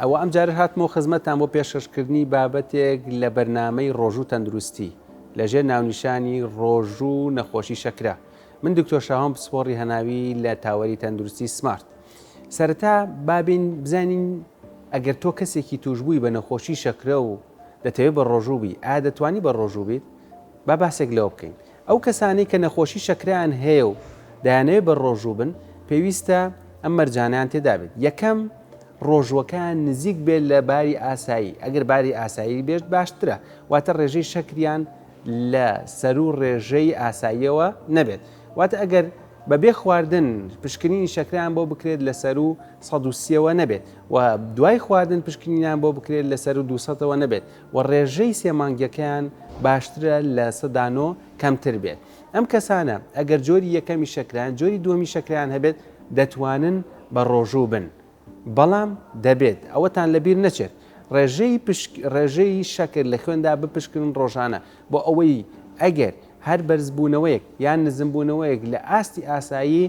ئەوە ئەم جارەش هاتمەوە خزمەتتان بۆ پێشکەش کردنی بابەتێک لە بەرنامەی ڕۆژوو تەندروستی لە ژێر ناونیشانی ڕۆژوو نەخۆشی شەکرە من دکتۆر شاهۆم پسپۆڕی هەناوی لە تاوەری تەندروستی سمارت سەرەتا بابین بزانین ئەگەر تۆ کەسێکی توشببووی بە نەخۆشی شەکرە و دەتەوێت بە ڕۆژوو بی ئا دەتوانی بە ڕۆژوو بیت با باسێک لەوە بکەین ئەو کەسانەی کە نەخۆشی شەکرەیان هەیە و دەیانەوێت بەرڕۆژوو بن، پێویستە ئەم مەرجانەیان تێدا بێت، یەکەم، ڕۆژووەکەیان نزیک بێت لە باری ئاسایی، ئەگەر باری ئاسایی بێت باشترە، واتە ڕێژەی شەکریان لە سەروو ڕێژەی ئاساییەوە نەبێت، واتە ئەگەر بەبێ خواردن پشکنینی شەکرەیان بۆ بکرێت لە سەروو سەد و سیەوە نەبێت و دوای خواردن پشکنینیان بۆ بکرێت لە سەروو دوو سەدەوە نەبێت و ڕێژەی سێ مانگیەکەیان باشترە لە سەدا نۆ کەمتر بێت ئەم کەسانە ئەگەر جۆری یەکەمی شەکرەیان جۆری دووەمی شەکرەیان هەبێت دەتوانن بە ڕۆژوو بن بەڵام دەبێت ئەوەتان لەبیر نەچێت ڕێژەی پشک ڕێژەی شەکر لە خوێندا بپشکنن ڕۆژانە بۆ ئەوەی ئەگەر هەر بەرزبوونەوەیەک یان نزمبوونەوەیەک لە ئاستی ئاسایی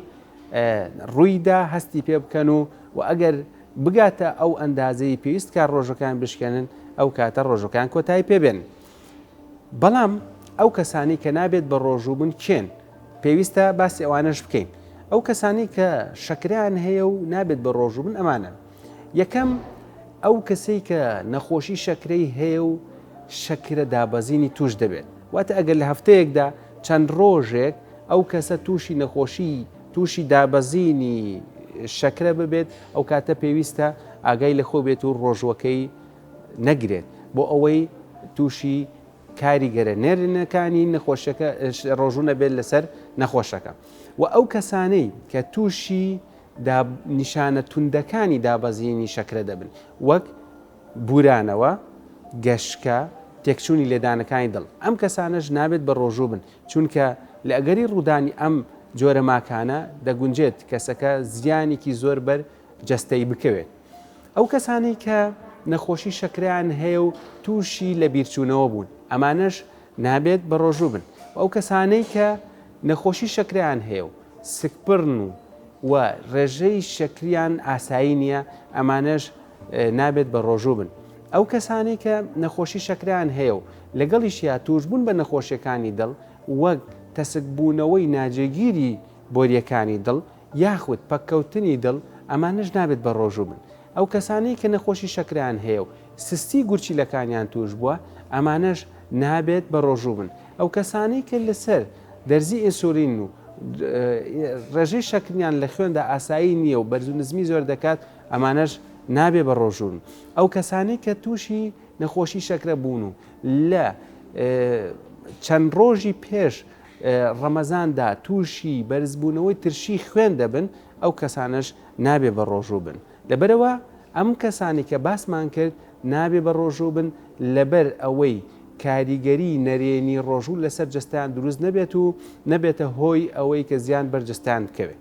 ڕوویدا هەستی پێ بکەن و و ئەگەر بگاتە ئەو ئەندازەی پێویست کە ڕۆژەکان بشکێنن ئەو کاتە ڕۆژەکان کۆتایی پێبێن بەڵام ئەو کەسانی کە نابێت بە ڕۆژوو بن کێن پێویستە باسی ئەوانش بکەین ئەو کەسانی کە شەکریان هەیە و نابێت بە ڕۆژوو بن ئەمانە یەکەم ئەو کەسەی کە نەخۆشی شەکرەی هەیە و شەکرە دابەزینی توش دەبێت واتە ئەگەر لە هەفتەیەکدا چەند ڕۆژێک ئەو کەسە تووشی نەخۆشی تووشی دابەزینی شەکرە ببێت ئەو کاتە پێویستە ئاگای لە خۆ بێت و ڕۆژووەکەی نەگرێت بۆ ئەوەی تووشی کاریگەرە نێرنەکانی نەخۆشەکە ڕۆژوو نەبێت لەسەر نەخۆشەکە و ئەو کەسانەی کە تووشی نیشانە توندەکانی دابەزینی شەکرە دەبن وەک بورانەوە گەشکە تێکچوونی لێدانەکانی دڵ ئەم کەسانەش نابێت بە ڕۆژوو بن چونکە لە ئەگەری ڕوودانی ئەم جۆرە ماکانە دەگونجێت کەسەکە زیانێکی زۆر بەر جەستەی بکەوێت. ئەو کەسانەی کە نەخۆشی شەکرەیان هەیە و تووشی لەبیرچوونەوە بوون ئەمانەش نابێت بەڕۆژوو بن و ئەو کەسانەی کە نەخۆشی شەکرەیان هەیە و سکپڕن و و ڕێژەی شەکریان ئاسایی نییە ئەمانەش نابێت بەڕۆژوو بن. ئەو کەسانەی کە نەخۆشی شەکرەیان هەیە و لەگەڵیشیا تووشبوون بە نەخۆشییەکانی دڵ وەک تەسکبوونەوەی ناجێگیری بۆرییەکانی دڵ یاخود پەککەوتنی دڵ ئەمانەش نابێت بەڕۆژوو بن ئەو کەسانەی کە نەخۆشی شەکرەیان هەیە و سستی گورچیلەکانیان تووشبووە ئەمانەش نابێت بەڕۆژوو بن ئەو کەسانەی کە لەسەر دەرزی ئینسولین و ڕێژەی شەکریان لە خوێندا ئاسایی نییە و بەرزو نزمی زۆر دەکات ئەمانەش نابێ بە ڕۆژوون. ئەو کەسانەی کە تووشی نەخۆشی شەکرە بوون و لە چەند ڕۆژی پێش ڕەمەزاندا تووشی بەرزبوونەوەی ترشی خوێن دەبن، ئەو کەسانەش نابێ بە ڕۆژوو بن. لەبەرئەوە ئەم کەسانەی کە باسمان کرد نابێ بە ڕۆژوو بن لەبەر ئەوەی کاریگەری نەرێنی ڕۆژوو لەسەر جەستەیان دروست نەبێت و نەبێتە هۆی ئەوەی کە زیان بەر جەستەیان بکەوێ.